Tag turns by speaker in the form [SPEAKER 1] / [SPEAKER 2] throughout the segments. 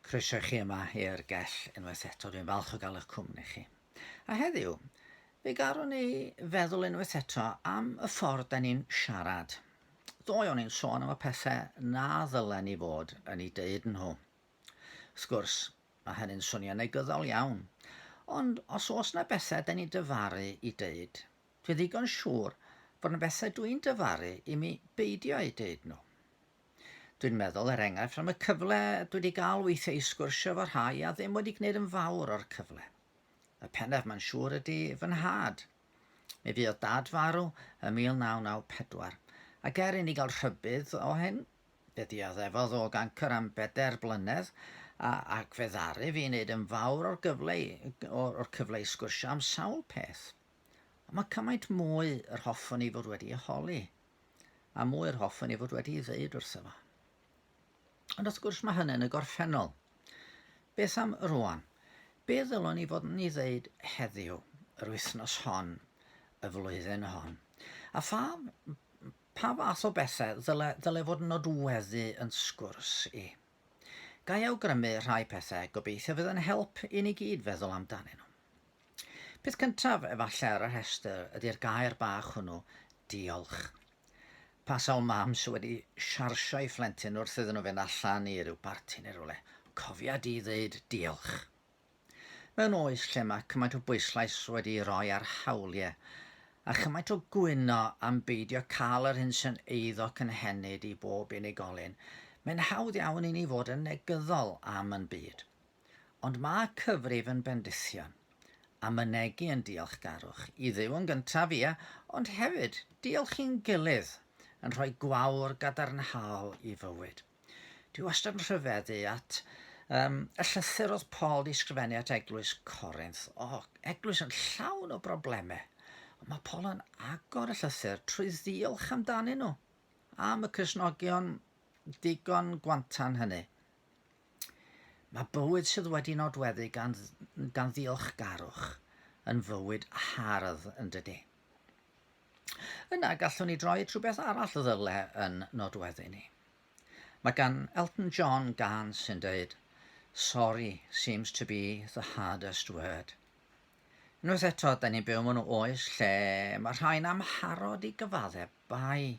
[SPEAKER 1] Croeso i chi yma i'r gell unwaith eto, dwi'n falch o gael eich cwmni chi. A heddiw, fe garwn ni feddwl unwaith eto am y ffordd da ni'n siarad. Ddoe o'n i'n sôn am y pethau na ddylen ni fod yn ei deud nhw. Wrth gwrs, mae hynny'n swnio negyddol iawn, ond os oes na bethau da ni'n dyfaru i deud, dwi ddigon siŵr bod yna bethau dwi'n dyfaru i mi beidio eu deud nhw. Dwi'n meddwl, er enghraifft, am y cyfle dwi wedi gael weithiau i sgwrsio efo rhai a ddim wedi gwneud yn fawr o'r cyfle. Y pennaf mae'n siŵr ydy fy nhad. Mi fuodd dad farw ym 1994, ac er inni gael rhybudd o hyn, fe ddioddefodd o gancr am bedair blynedd, a, ac fe ddaru fi wneud yn fawr o'r gyfle i, o'r, o'r cyfle i sgwrsio am sawl peth. Ond mae cymaint mwy yr hoffwn i fod wedi ei holi. a mwy yr hoffwn i fod wedi ei ddeud wrtho fo. Ond wrth gwrs mae hynny'n y gorffennol. Beth am rwan? Be ddylwn ni fod yn ei ddeud heddiw, yr wythnos hon, y flwyddyn hon? A pha, pa fath o bethau ddyle, ddyle fod yn nodweddu yn sgwrs i? Ga i awgrymu rhai pethau, gobeithio fydd yn help i ni gyd feddwl amdanyn nhw. Peth cyntaf efallai ar y rhestr ydi'r gair bach hwnnw, diolch. Pa sawl mam sy wedi siarsio'i phlentyn wrth iddyn nhw fynd allan i ryw barti neu rywle, cofia di ddeud diolch. Mewn oes lle mae cymaint o bwyslais wedi'i roi ar hawlie, a chymaint o gwyno am beidio cael yr hyn sy'n eiddo cynhenid i bob unigolyn, mae'n hawdd iawn i ni fod yn negyddol am yn byd. Ond mae cyfrif yn bendithion, a mynegi yn diolchgarwch, i Dduw yn gyntaf, ie, ond hefyd diolch i'n gilydd, yn rhoi gwawr gadarnhaol i fywyd. Dwi wastad yn rhyfeddu at um, y llythyr oedd Paul di sgrifennu at eglwys Corinth. O, oh, eglwys yn llawn o broblemau. Ond mae Paul yn agor y llythyr trwy ddiolch amdanyn nhw am y cysnogion digon gwantan hynny. Mae bywyd sydd wedi nodweddu gan, gan ddiolchgarwch yn fywyd hardd yn dydy. Yna gallwn ni droi at rhywbeth arall ddyle yn nodweddu ni. Mae gan Elton John gan sy'n dweud, Sorry seems to be the hardest word. Unwaith eto, da ni'n byw mewn oes lle mae rhai'n amharod i gyfaddebau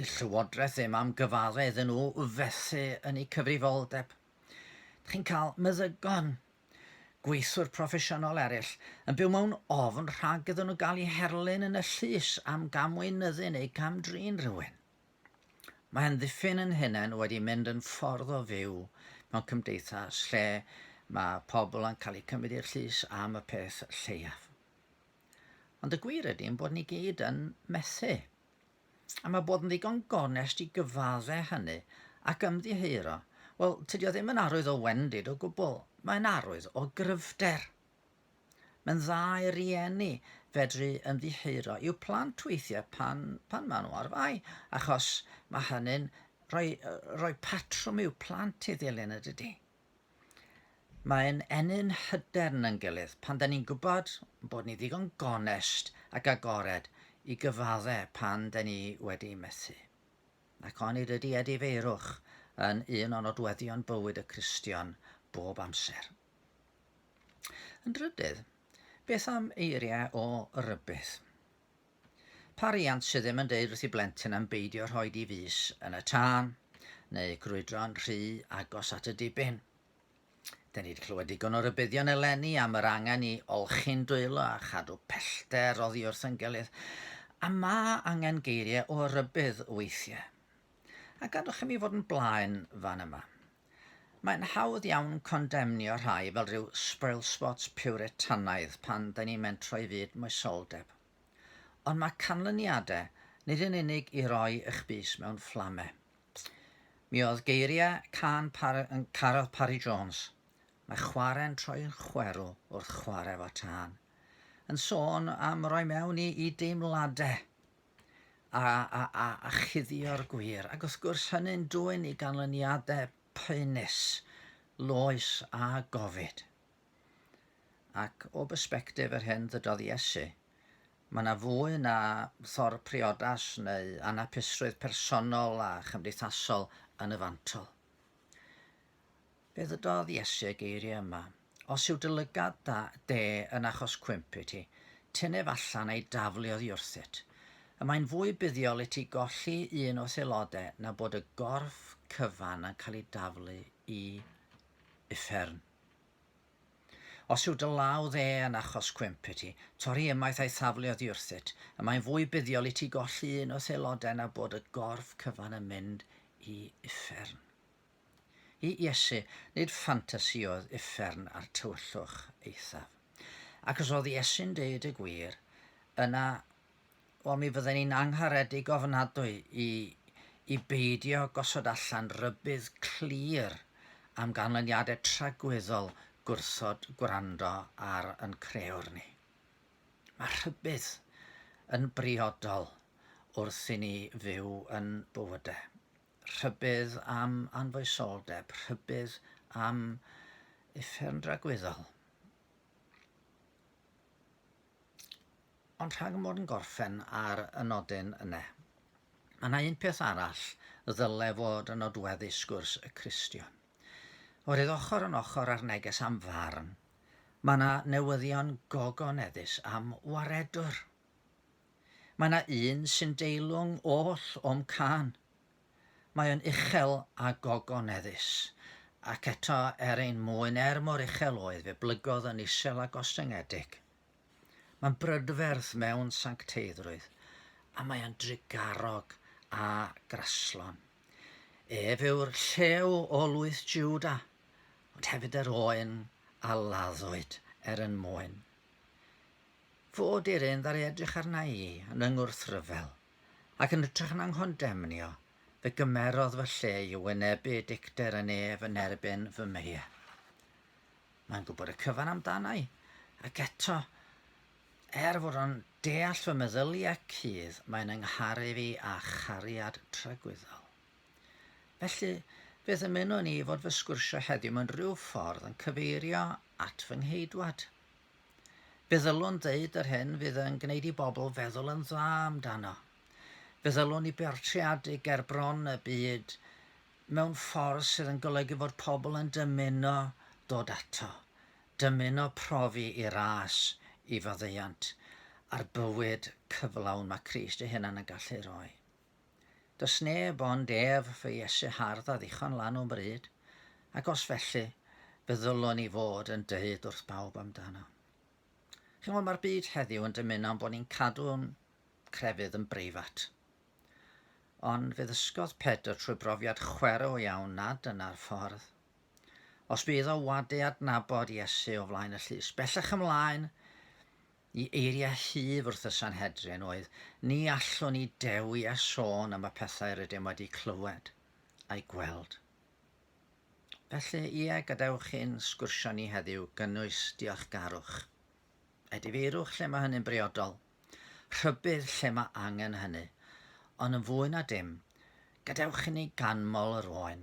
[SPEAKER 1] Dydd Llywodraeth ddim am gyfaddau iddyn nhw fethu yn eu cyfrifoldeb. Dych chi'n cael meddygon, gweithwyr proffesiynol eraill, yn byw mewn ofn rhag iddyn nhw gael eu herlyn yn y llys am gamweinyddu neu gamdrin rhywun. Mae amddiffyn yn hunain wedi mynd yn ffordd o fyw mewn cymdeithas lle mae pobl yn cael eu cymryd i'r llys am y peth lleiaf. Ond y gwir ydy ein bod ni gyd yn methu. A mae bod yn ddigon gonest i gyfadde hynny ac ymddiheuro, wel, tydi o ddim yn arwydd o wendid o gwbl, mae'n arwydd o gryfder. Mae'n dda i rieni fedru ymddiheuro i'w plant weithiau pan, pan maen nhw ar fai, achos mae hynny'n rhoi, rhoi patrwm i'w plant i ddilyn y dydy. Mae'n ennyn hyder yn ein gilydd pan da ni'n gwybod bod ni ddigon gonest ac agored i gyfadde pan da ni wedi methu. Ac onid ydy edifeirwch yn un o nodweddion bywyd y Cristion bob amser? Yn drydydd, beth am eiriau o rybudd? Pa riant sydd ddim yn deud wrth i blentyn am beidio rhoi di fys yn y tân, neu grwydro'n rhy agos at y dibyn? Da ni wedi clywed digon o rybuddion eleni am yr angen i olchi'n dwylo a chadw pellter oddi wrth yn gilydd, a ma angen geiriau o rybudd weithiau. A gadwch i mi fod yn blaen fan yma. Mae'n hawdd iawn condemnio rhai fel rhyw spoilspot piwretanaidd pan dyn ni'n mentro i fyd moesoldeb. Ond mae canlyniadau nid yn unig i roi eich bys mewn fflame. Mi oedd geiriau cân par yn Caryl Parry Jones, Mae chware'n troi'n chwerw wrth chwarae fo tân, yn sôn am roi mewn i, i deimladau. a, a, a, a chuddio'r gwir. Ac wrth gwrs hynny'n dwyn i ganlyniadau poenus, loes a gofid. Ac o bersbectif yr hyn ddydodd Iesu, mae yna fwy na thor priodas neu anapusrwydd personol a chymdeithasol yn y fantol. Fe ddydodd Iesu y geiriau yma, Os yw dy lygad da de yn achos cwymp i ti, tyn ef allan a'i daflu oddi wrthyt. Y mae'n fwy buddiol i ti golli un o'th aelodau na bod y gorff cyfan yn cael ei daflu i uffern. Os yw dy law dde yn achos cwymp i ti, torri ymaith a'i thaflu oddi wrthyt. Y mae'n fwy buddiol i ti golli un o'th aelodau na bod y gorff cyfan yn mynd i uffern. I Iesu, nid ffantasi oedd uffern a'r tywyllwch eithaf. Ac os oedd Iesu'n deud y gwir, yna, wel mi fydden ni'n angharedig ofnadwy i, i beidio gosod allan rybudd clir am ganlyniadau tragwyddol gwrthod gwrando ar yn creuwr ni. Mae rhybudd yn briodol wrth i ni fyw yn bywydau. rhybudd am anfoesoldeb, rhybudd am uffern dragwyddol. Ond rhag mod yn gorffen ar y nodyn yna, mae yna un peth arall y ddyle fod yn nodweddu sgwrs y Cristion. Oherwydd ochr yn ochr â'r neges am farn, mae yna newyddion gogoneddus am waredwr. Mae 'na un sy'n deilwng oll o'm cân. Mae o'n uchel a gogoneddus. Ac eto, er ein mwyn, er mor uchel oedd, fe blygodd yn isel a gostyngedig. Mae'n brydferth mewn sancteiddrwydd, a mae o'n drugarog a graslon. Ef yw'r llew o lwyth Jiwda, ond hefyd yr oen a laddwyd er yn mwyn. Fod yr un ddaru edrych arna i yn fy ngwrthryfel, ac yn ytrach na nghondemnio, fe gymerodd fy lle i wynebu dicter yn ef yn erbyn fy mheiau. Mae'n gwybod y cyfan amdana i, ac eto, er fod o'n deall fy meddyliau cudd, mae'n yng ngharu fi â chariad tragwyddol. Felly, fe ddymunwn i fod fy sgwrsio heddiw mewn rhyw ffordd yn cyfeirio at fy Ngheidwad, Fe ddylwn ddeud yr hyn fydd yn gwneud i bobl feddwl yn dda amdano. Fe ddylwn i bortreadu gerbron y byd mewn ffordd sydd yn golygu fod pobl yn dymuno dod ato, dymuno profi i ras, i faddeuant, a'r bywyd cyflawn mae Crist ei hunan yn gallu rhoi. Does neb ond ef fy Iesu hardd a ddichon lan o'n bryd, ac os felly, fe ddylwn ni fod yn dweud wrth bawb amdano. Chi'n gwybod, mae'r byd heddiw yn dymuno bod ni'n cadw'n crefydd yn breifat. Ond fe ddysgodd Pedr trwy brofiad chwerw iawn nad dyna'r ffordd. Os bydd o wadu adnabod Iesu o flaen y llys, bellach ymlaen, Y eiriau huf wrth y Sanhedrin oedd, Ni allwn ni dewi a sôn am y pethau rydym wedi clywed a'u gweld. Felly, ie, gadewch i'n sgwrsio ni heddiw gynnwys diolchgarwch. Edifeirwch lle mae hynny'n briodol. Rhybudd lle mae angen hynny. Ond yn fwy na dim, gadewch i ni ganmol yr oen.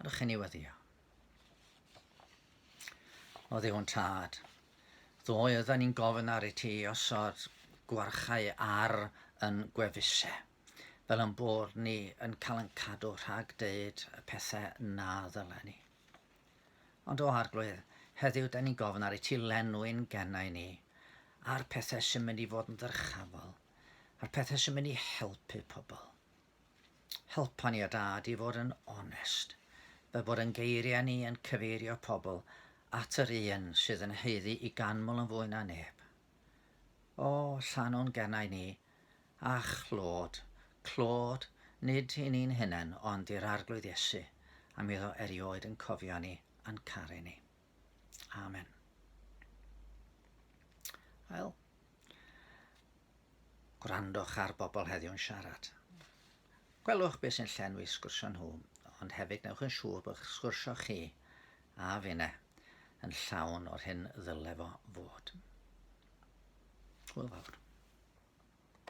[SPEAKER 1] Ydych chi'n ei weddio? O ddiwn tad. Ddoe ydyn ni'n gofyn ar i ti osod gwarchau ar yn gwefusau, fel yn bod ni yn cael yn cadw rhag deud y pethau na ddylen ni. Ond o arglwydd, heddiw da ni'n gofyn ar i ti lenwi'n gennau ni, a'r pethau sy'n mynd i fod yn ddyrchafol, a'r pethau sy'n mynd i helpu pobl. helpa ni a Dad i fod yn onest, fel bod ein geiriau ni yn cyfeirio pobl at yr un sydd yn haeddu i ganmol yn fwy na neb. O, llanwn gennau ni, a'ch clod, clod, nid i ni'n hunain ond i'r Arglwydd Iesu, am iddo erioed yn cofio ni a'n caru ni. Amen. Wel, gwrandwch ar bobl heddiw'n siarad. Gwelwch beth sy'n llenwi sgwrsio nhw, ond hefyd newch yn siŵr bod sgwrsio chi a finne yn llawn o'r hyn ddyle fo fod. Hwyl fawr.